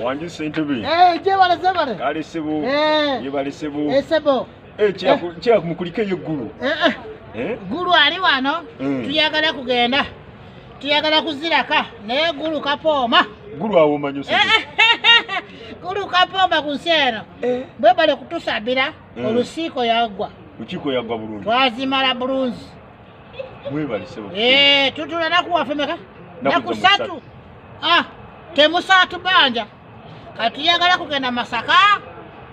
wanjise ntubi eh, jebale zebale kale sebo eh. yebale sebo eh, sebo kyaku mukulike yo gulu gulu ali wano tuyagala kugenda tuyagala kuziraka naye gulu kapooma gulu awomanyo gulu kapooma ku nsi eno bwebale kutusabira olusiiko yagwa lukiiko yagwa bulungi twazimala bulungi Eh, tutula naku waffe meka naku satu ah, temusatu banja katuyagala kugenda masaka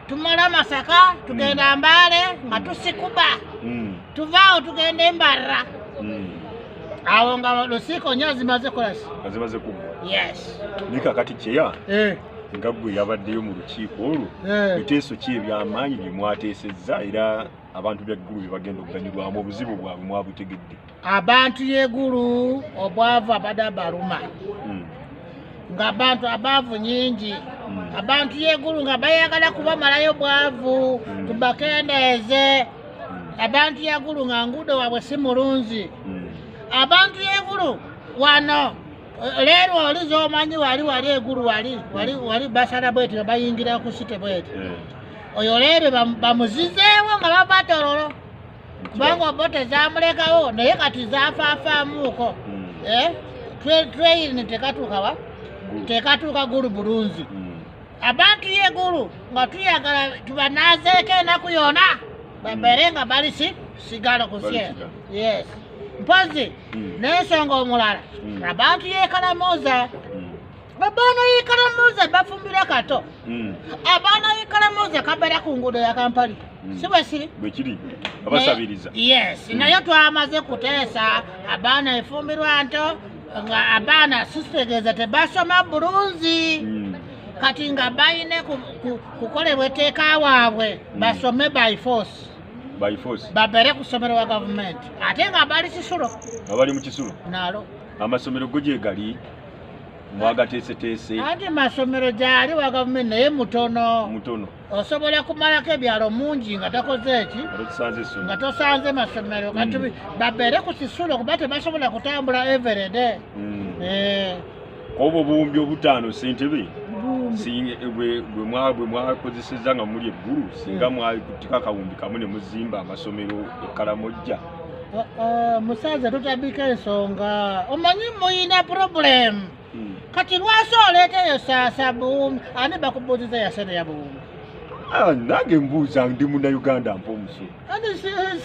tumala masaka tugenda mm. mbale nga tusikuba mm. tuvaawo tugenda embarra mm. awo nga lusiiko nyo zimaze kolasi azimaze kugwa yes ni kakati kyeya eh. nga gwe yabaddeyo mu lukiiko olwo eh. biteeso ki ebyamaanyi byemwateesezza era abantu byeggulu bye bagenda okuganyulwamu obuzibu bwabwe mwabutegedde abantu yegulu obwavu abada baluma hmm. nga abantu abaavu nyingi hmm. abantu yegulu nga bayagala kubamalayo bwavu hmm. tubakendeeze abantu yegulu nga nguudo wabwe si mulungi abantu yegulu wano leero oli zomanyi wali wali egulu wali wali wali basala bweti bayingira ku site bweti eh. oyo leero bamuzizeewo nga bava tororo kubanga obote zamulekawo naye kati zafafaamuuko hmm. eh? tweyini tekatuukawa tekatuuka gulu bulunzi hmm. abantu yegulu nga tuyagala tubanazeeko enaku yona babere nga bali si sigalo kusye yes mpozi mm. nensonga omulala mm. abantu yekalamuza mm. abaana yekalamuza bafumbira kato abaana yekalamuza kabera ku ngudo ya kampali sibwesiri bwekiri abasabiriza yes naye twamaze kuteesa abaana efumbirwa nto nga abaana sisitegeeza tebasoma bulungi kati nga bayine kukolebwa eteeka waabwe hmm. basome by force by force babere ku ssomero wa gavumenti ate nga bali kisulo nga bali mu kisulo nalo amasomero go gye gali mwagateeseteese ate masomero gyali wa gavumenti naye mutono mutono osobola kumalako ebyalo mungi nga takoze eki nga tosanze masomero kati mm. babeere ku kisulo kuba tebasobola kutambula everede mm. eh. obwo obuwumbi obutaano sentebe eh, bwe mwakozeseza nga muli eggulu singa mm. mwakutiko akawumbi kamu ne muzimba amasomero ekalamojja oh, oh, musaze tutabika ensonga omanyi muyina problemu hmm. kati lwasa oleeteyo saasa buwumbi ani bakubuuziza yasente ya buwumbi ah, nange mbuuza ndi muna uganda mpa omusolo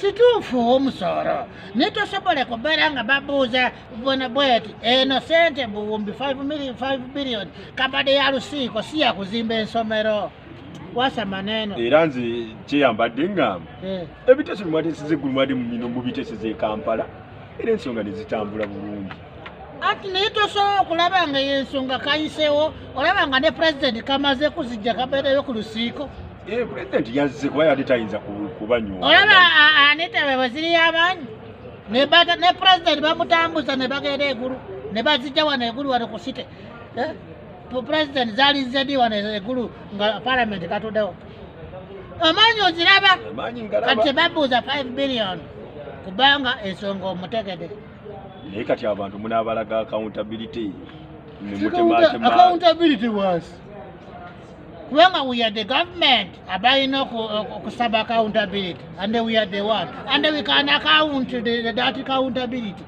situufu omusolo naye tosobole kubeera nga babuuza bona bweti eno sente buwumbi 5 billion kabade ya lusiiko si yakuzimba ensomero wasa maneno era nze kyeyambadde ngamba eh. ebiteeso bimwatesiza eggulu mwade mumino mubiteeseza e kampala era ensonga nezitambula bulungi anti naye tosobola okulaba nga yensonga kayisewo olaba nga ne pulezidenti kamaze kuzijja kabeereyo ku lusiiko eh, pulezidenti yazze kuba yali tayinza kubanywa olaba anita bwe bweziriyo abaanyi ne pulezidenti bamutambuza ne bagenda egulu ne bazijja wano egulu wano ku site eh, pulezidenti zali zedi wano egulu nga palamenti katuddewo omanyi oziraba kati babuuza 5 billion kubanga ensonga omutegede naye kati abantu munabalaga accountability accountability was kubanga we are the government abalina okusaba accountability and we are the one and we can account the, the, that accountability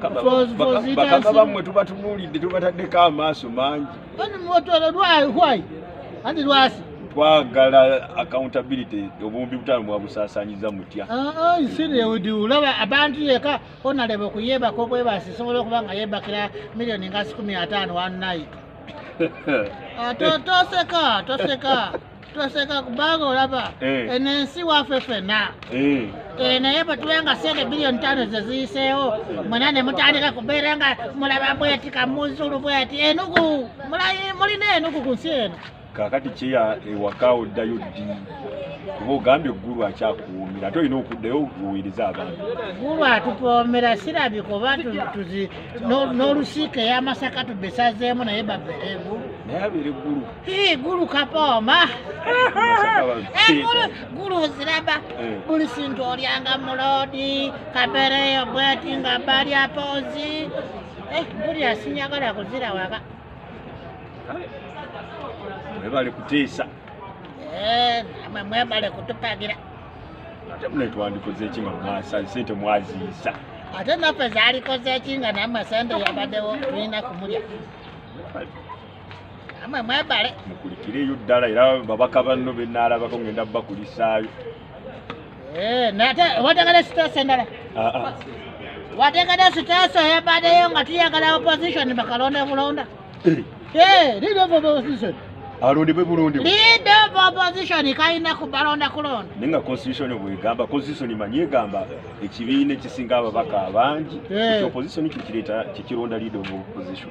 bakaba bamwe tubatunulidde tubataddeko amaaso mangi twagala accountability obuwumbi butaano mwabusaasanyiza mutya olaba abantu yeka onaleba okuyebaka obwebasi sobola okuba nga yebakira miliyoni nga sikumi ataano one night ah, toseka toseka tweseka kubanga olaba eh. eno ensi waffe fena eh. eh, naye bwetuba nga sente biliyoni tano zeziyiseewo mwena nemutandika kubeera nga mulaba bweti kamuzulu bweti enugu mulina enugu ku nsi eno kakati kyeya ewaka oddayo ddi kuba ogambye gulu akyakuwumira ate olina okuddayo okuwuiriza abantu gulu atupoomera sirabi kuba n'olusiika eyamasaka tubesazeemu naye babeere gulu naye abeere gulu Hii gulu kapooma egulu eh, gulu ziraba eh. buli sintu olyanga muloodi kabereyo bweti nga balya poozi eh, buli asinyagala kuzira waka mwebale kutiisa namwe mwebale kutupagira ate mune twandikoze ki nga mwasa sente mwaziisa ate naffe zaalikoze ki nga namwe sente yabadewo tulina kumulya amwe mwebale mukulikireyo ddala era babaka banno benaalabako ngenda bakulisaayo eh, nate wategere sitaasi endala ah, ah. wategere sitaasi oyebadeyo nga tuyagala opposition bakalonda bulonda eh. eh, leader of opposition alondebwe bulondebwe leader of opposition kalina kubalonda kulonda naye nga constitution bwegamba constitution manyi egamba ekibiina ekisinga ababaka abangi opposition kikireta kikironda leader of opposition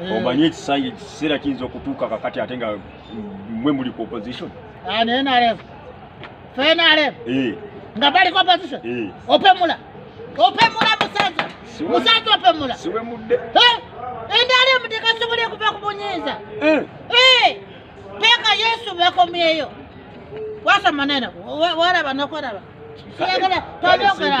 Eh. omanyi ekisanyi ekiseera kiyinza okutuuka kakati ate nga mwe muli ku opposition ah, nrm fnrm eh. nga bali ku opposition eh. opemula opemula musaza musaza opemula siwemudde nrm tekasobola okuva ku bunyiiza peka yesu bekomyeyo wasa maneno waraba nokoraba siyagala tonyogera